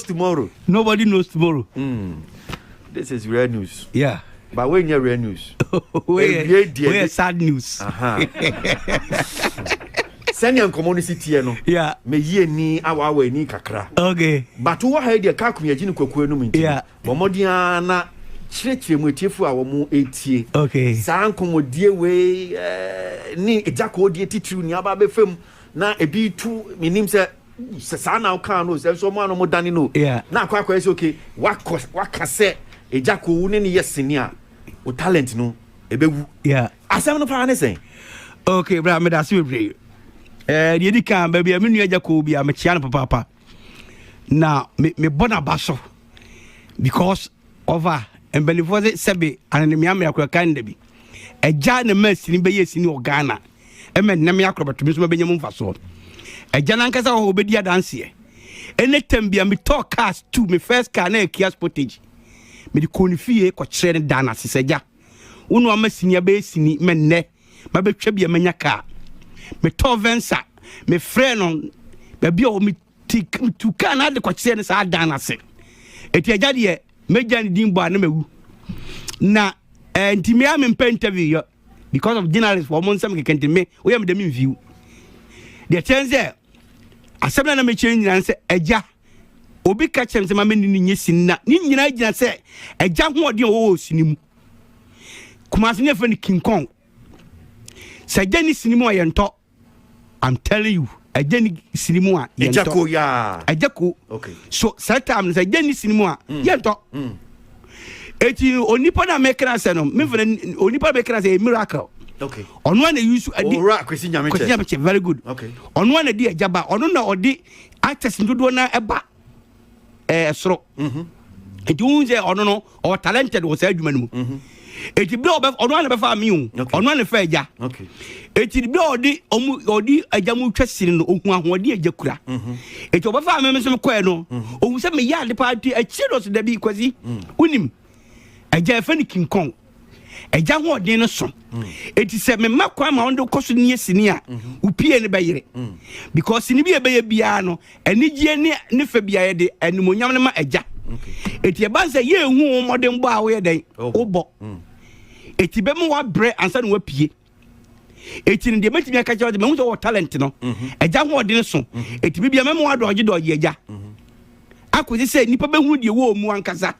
tomorrow. Nobody knows tomorrow. Mm. This is rare news. Yeah. But when you're rare news, where where sad news. Uh-huh. sɛnea nkɔmmɔ no si teɛ no meyi ani awaawa ani kakra bato wɔ ha yi deɛ ka akomi agye ne kwakuo anom nti bɔmmɔden ara na kyerɛkyerɛ mu atiefo a wɔn ɛtie saa nkɔmmɔdie wei eh, ne agya kɔɔdeɛ titiriw nea aba bɛfam Na ebi tu menim sɛ sɛ saa na wokaa no sɛ nso ɔmo ano mo dane no na akɔ akɔyɛ sɛ okay wakɔ waka sɛ egya kɔ wo ne ne yɛ sini a wo talent no ebewu asɛm no paa ne sɛn. okay bra meda ase bebree ɛɛ eh, deɛ di kan baabi a me nua agya kɔ bi a mekyia no papaapa na mebɔ n'aba so because Ɔfa mpanimfoɔ se sɛbe ananamia mmeakorɔ kan da bi. Agya na ma sini bɛyɛ sini wɔ Ghana. Ɛma nnɛ mmeakorɔ bɛtumi nso mabɛnya mu mfasoɔ. Agya no ankasa wɔ hɔ ɔbɛdi adanseɛ. Ɛnɛ tam bia metɔɔ cars two, me first car na yɛ Kia Sportage. Mede kɔɔ ne fie kɔkyerɛ no daa no ase sɛ agya, wo na wama sini abɛyɛ sini ma nnɛ mabɛtwa bia manya car. Metɔɔ Venza, mefrɛɛ no baabi a ɔwɔ me Ti tu kaa no ade kɔkyeɛ no saa dan no ase ɛti agya deɛ mɛgya ne din bɔ a na mawu na eh, nti me a mempɛ interview yɔ because of journalist wɔ mo nsɛm kɛkɛ nti me woyɛ mede me mviw deɛ kyɛn sɛ asɛm no na mekyerɛ nyina ne sɛ agya obi ka kyerɛ me sɛ ma mene no nyɛ sini na ne nyinaa gyina sɛ agya hoɔden a wɔwɔ sini mu kumase ne ɛfrɛ no king kong sɛ agya ne sini mu a yɛntɔ I'm telling you, ɛgya ni sini mu a yɛntɔ. Ɛgya ko yaa. Ɛgya ko. Okay. So saa time no sɛ ɛgya ni sini mu a mm. yɛntɔ. Mm. Eti onipa na mekra sɛ no, me fana onipa na mekra sɛ a miracle. Okay. Ɔno ana yusu adi. Owura Kwesi Nyamekyɛ. Kwesi Nyamekyɛ very good. Okay. Ɔno ana di ɛgya ba, ɔno na ɔde actors dodoɔ na ɛba. E ɛɛ soro nti wohu sɛ ɔno no ɔwɔ talented wɔ saa adwuma no mu ɛti berɛ ɔbɛ ɔno a na bɛfa me o ɔno a na fa agya ɛti berɛ ɔde ɔmu ɔde agya mu twa sini no ɔhu ahoɔden agya kura ɛti ɔbɛfa me me nso mekɔɛ no ɔhu sɛ meyɛ ade paa ti akyire no so da bi kwasi wonim agya ɛfɛ no king kong agya hoɔden no so ɛti mm. sɛ mema kwan ma wode wokɔ so ne yɛ sini a mhm. wopie no bɛyere mm. because sini bi ɛbɛyɛ biara no anigyeɛ ne ne fɛ biara de animonyam no ma agya ɛti ɛba sɛ yɛɛhu wo mmɔdenbɔ a woyɛ dɛn wobɔ ɛti bɛma woabrɛ ansa na woapie eti no deɛ mɛtumi aka kyerɛ ɔde mahu sɛ ɔwɔ talent no agya mhm. ho ɔde no so mhm. eti bibia mɛma wadɔgye dɔgye agya mhm. akɔsi sɛ nnipa bɛhunu deɛ wɔ mu ankasa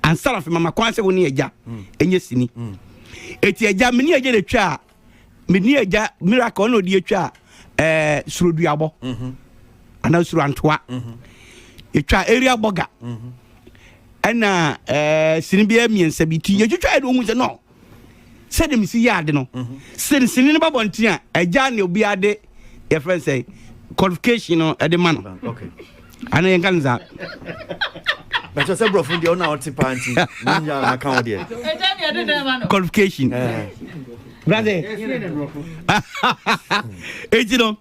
ansa na afei mama kwan sɛ wo ne agya ɛnyɛ sini eti agya mene agya na atwa a mene agya miracle ɔna ɔde atwa a ɛɛ suroduabɔ anaa surantoa ɛtwa area bɔga ɛna ɛɛ sini biara mmiɛnsa bi ti yɛtwitwa yɛ de ohun sɛ no sɛde mesi yɛ ade no mhm. sɛ sini no ba bɔnten a agya ne obiara de yɛfrɛ no sɛ qualification no ɛde ma no ana yɛnka no saa bɛkyɛ sɛ borɔfo deɛ wona wote paa nti wonya maka wo deɛ qualification brasɛ ɛnti no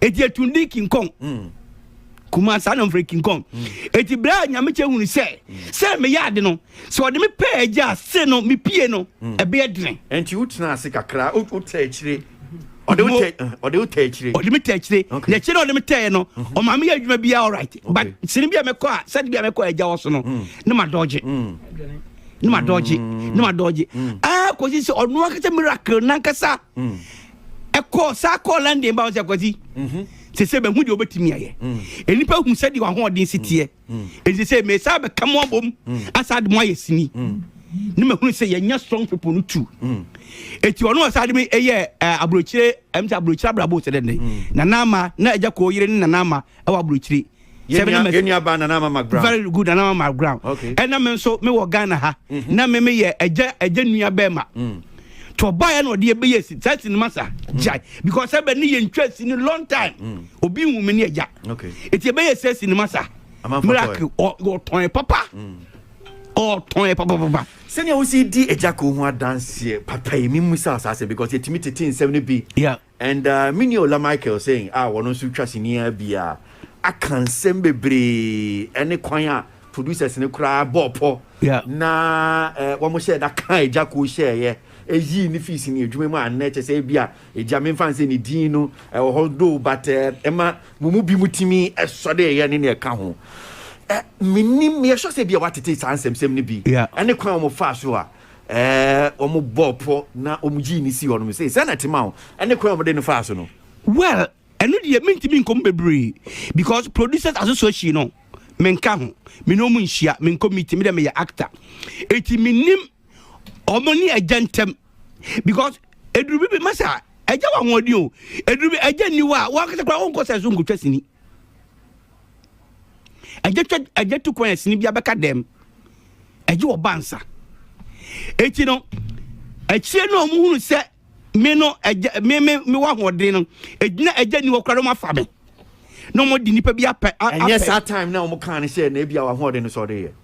eti etundi kinkɔn mm. kuma saa na mfrɛ kinkɔn mm. eti bere a nyamekyɛ hunu sɛ mm. sɛ meyɛ ade no sɛ ɔde me pɛ agya ase no mepie no ɛbɛyɛ dene ɛnti wotena ase kakra wotɛ akyire ɔde wo tɛ ɔde wo tɛ akyire ɔde me tɛ akyire na akyire na ɔde me tɛɛ no mhm. ɔmaa me yɛ adwuma bi all right but sini bi a mɛkɔ a sɛde bi a mɛkɔ agya wɔ so no mm. ne ma dɔgye mm. ne ma dɔgye mm. ne ma dɔgye aa kɔsi sɛ ɔno ankasa miracle nankasa ɛkɔɔ saa kɔɔ london ba wo sɛ kwasi sɛ sɛ bɛhu deɛ wɔbɛtumi ayɛ nnipa hu sɛdeɛ wahoɔden si teɛ ɛnti sɛ mesa bɛka mo abom asa de mo ayɛ sini ne mahunu sɛ yɛnya strong people no tu ɛti ɔno ɔsa de me ɛyɛ aburokyire ɛm sɛ aburokyire abrabɔ sɛ dɛ ne nanama na agya kɔɔ yere ne nanama ɛwɔ aburokyire yɛn yɛn nua baa nana ama mark brown very good nana ama mark brown okay ɛna me nso me wɔ ghana ha mhm. na me me yɛ ɛgya ɛgya nua bɛɛ ma mm. to ɔbaa yɛ na ɔde ɛbɛyɛ si saa si ne ma sa mm. gyae because ɛbɛ ne yɛ ntwa si ne long time mm. obi nhu me ne ɛgya okay eti ɛbɛyɛ sɛ si ne ma sa miracle ɔtɔn yɛ papa ɔtɔn yɛ papapapa. sɛnea wosi di ɛgya ko ho adanseɛ papa yi mi mu sa asaase because yɛtumi tete nsɛm no bi. And me nua Ola Michael Seng a ɔno nso twa sini ara bi a aka nsɛm bebree ne kwan a producers no koraa bɔɔ pɔ na wɔn hyɛɛ da kaa agya koo hyɛɛyɛ yii no fii sini adwuma mu a nnɛ kyɛ sɛ bi a agya memfa nsɛ ne din no ɛwɔ hɔ do but ɛma mo mu bi mu tumi sɔdeeɛ ne nea ɛka ho mennim meyɛ sure sɛ bi a watete saa nsɛmsɛm no bi ne kwan a wɔn faa so a Ɛɛ, wɔbɔɔ pɔ na wɔyii no sii hɔnom. Sei, sɛn na ɛte ma wo? Ɛne kwan a wɔde no faa so no? Well, ɛno deɛ mentumi nkɔ mu bebree because Producers Association no, menka ho. Me ne wɔn nhyia, menkɔ meeting, me deɛ meyɛ actor. Enti mennim wɔn ne agya ntam because ɛduru bi bi ma sɛ agya wɔ ahoɔden o, ɛduru bi agya nni hɔ a, wɔn ankasa koraa wɔnkɔ sɛ so nkɔtwa sini. ɛgye twɛ ɛgye tu kwan ɛsini bi abɛka dɛm ɛgye wɔ ba nsa eti no akyire no a wɔn hunu sɛ me no ɛgye me me me wɔ ahoɔden no egyina ɛgye ni wɔ kora no wɔn afa me na wɔn de nipa bi apɛ apɛ. ɛnyɛ saa time na wɔn kan no sɛ na ebi a wɔn ahoɔden no sɔre yɛ.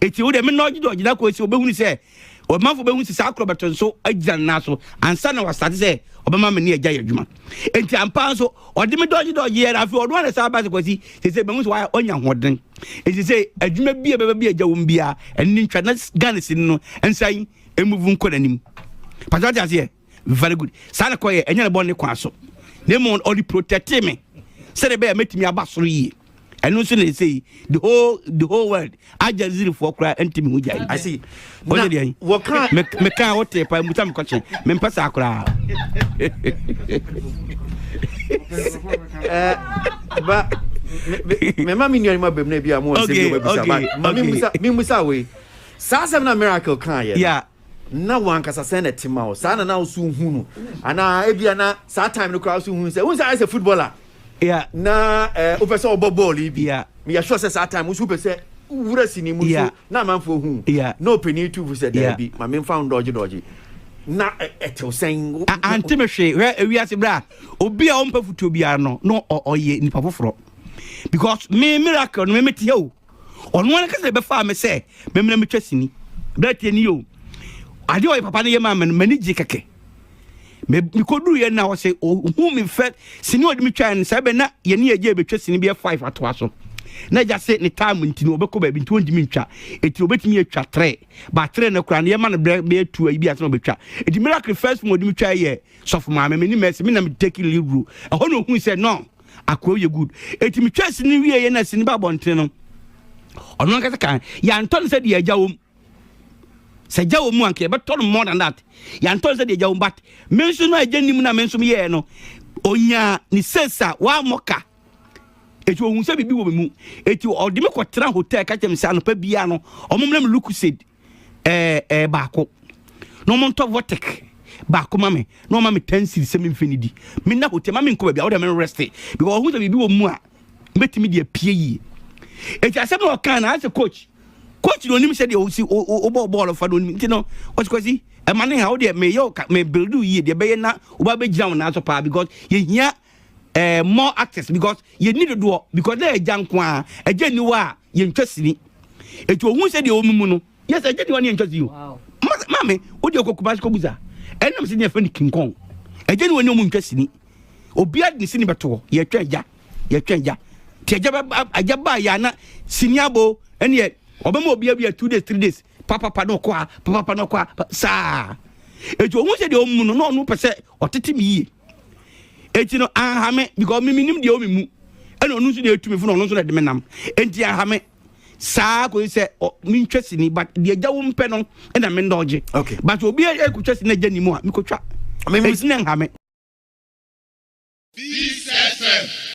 Enti wo deɛ menna ɔgye ɔgyina kɔ esi ɔbɛhunu sɛ ɔmanfo bɛhunu sɛ saa korɔ bɛto nso agyina ne nan so ansa na wasate sɛ ɔbɛma me ne agya yɛ adwuma. Enti ampa nso ɔde me dɔgye dɔgye yɛ na afei ɔno ara na saa base kwasi sɛ sɛ mahu sɛ wayɛ ɔnya hoɔden. Enti sɛ adwuma bi a bɛba bi agya wɔm biara ɛne ntwa na Ghana sini no nsan emuvu nkɔ n'anim. Pàtó ɔte aseɛ. very good saa na kɔyɛ ɛnyɛ ne bɔ ne kwan so na mmom ɔde protecte me sɛdeɛ bɛyɛ mɛtumi aba soro yie ɛno nso na ɛsɛ yi the whole the whole world agya zirifoɔ koraa ɛnti me ho gyae ase ɔnyɛ deɛ yi mekaa wo tee paa musa mekɔkye mempɛ saa koraa eh, ba mɛma me nuanom abam no bi a mowɔ sɛ bi wobɛbisa ba ma memusa wei saa asɛm na miracle kaa yɛ na wɔn ankasa sɛn na ɛte ma wo saa na na woso hu no anaa ebia na saa time no koraa so hu sɛ wohu sɛ ayɛ sɛ footballer yeah. na eh, wopɛ sɛ wɔbɔ bɔɔl yi bi yeah. meyɛ sure sɛ saa time woso wopɛ sɛ wura sini mu yeah. so na amanfoɔ hu yeah. na ɔpɛni tufo sɛ daabi yeah. ma memfa wo dɔgye dɔgye na ɛtew sɛn ante me hwee hwɛ ewiase berɛ a obi a ɔmpɛ fotuo biara no na ɔyɛ nipa foforɔ because me miracle no memete hɛ o Ɔno ankasa na ɛbɛfaa me sɛ memmra metwa sini. Berɛteɛ ni o, adeɛ a ɔyɛ papa no yɛ maa me no, m'ani gye kɛkɛ. Mekɔduruiɛ na ɔsɛ ɔhu me fɛ sini ɔde me twaeɛ no, saa bɛ na yɛne agya bɛtwa sini bɛyɛ five atoa so. Na agya se ne time nti no ɔbɛkɔ baabi nti ɔntumi ntwa, ɛti ɔbɛtumi atwa trɛ, ba trɛ no koraa no yɛma no berɛ bɛyɛ tu ayi bi ase na ɔbɛtwa. Ɛti miracle first mu ɔde me twaeɛ yɛ sɔfo maame, me ne mɛsi, me na me take lead role. Ɛhɔ na ɔhui sɛ no, Akoa yɛ good. Eti me twɛ sini wie yɛ na sini ba abɔnten no. Ɔno ankasa kan yɛantɔ no sɛ deɛ agya wom. Sɛ agya wom anka yɛbɛtɔ no more than that. Yɛantɔ no sɛ deɛ agya wom but me nso no a agya nim na me nso meyɛɛ no. Onyaa ne sales a wammɔ ka. Eti ohun sɛ biribi wɔ me mu. Eti ɔde me kɔtena hotel ka kyerɛ me sɛ anɔpa biara no ɔmommerɛ me lucozade. ɛɛ ɛɛ baako na wɔn ntɔ vɔtɛk baako ma me na wɔn ma me ten series sɛ mi nfin ni di mi na hotel ma mi nkɔ baabi a wɔde mi rɛste because ɔho sɛ biribi wɔ mu a mbɛtumi de apue yie eti asɛm na ɔkan na asɛ coach coach na onim sɛ deɛ osi ɔbɔ bɔɔl fa na onim nti no ɔsikwasi ɛma ne ha ɔdeɛ meyɛ ɔka me build yie deɛ bɛyɛ na ɔba bɛgyina wɔn nan so paa because yɛhia Eh, more actors because yɛni dodoɔ because na agya nko a agya ni hɔ a yɛntwa sini ɛti ɔhu sɛ deɛ ɔmumu no yɛ sɛ agya ni hɔ ne yɛntwa sini o maame wode ɔkɔ kumase kɔbusa ɛnam sɛ deɛ fɛ no kinkɔn agya ni hɔ ne ɔmu ntwa sini obia de sini bɛtoɔ yɛtwa agya yɛtwa agya nti agya bɛba agya baa yɛ ana sini abo ɛneɛ ɔbɛma obia bia two days three days papapa na ɔkɔ a papapa na ɔkɔ a saa ɛti ɔhu sɛ deɛ ɔmumu no na ɔno pɛ sɛ ɔtete me yie eti no ahame because me minim deɛ ɔmi mu ɛna ɔno nso deɛ etu me fo na ɔno nso na ɛde me nam eti ahame saa kò sɛ ɔ mi ntwa sini but deɛ gya wo mpɛ no ɛna me ndɔgye okay but obi ɛkò twa sini ɛgya ni mu a mi kò twa eti na nhame. Peace FM.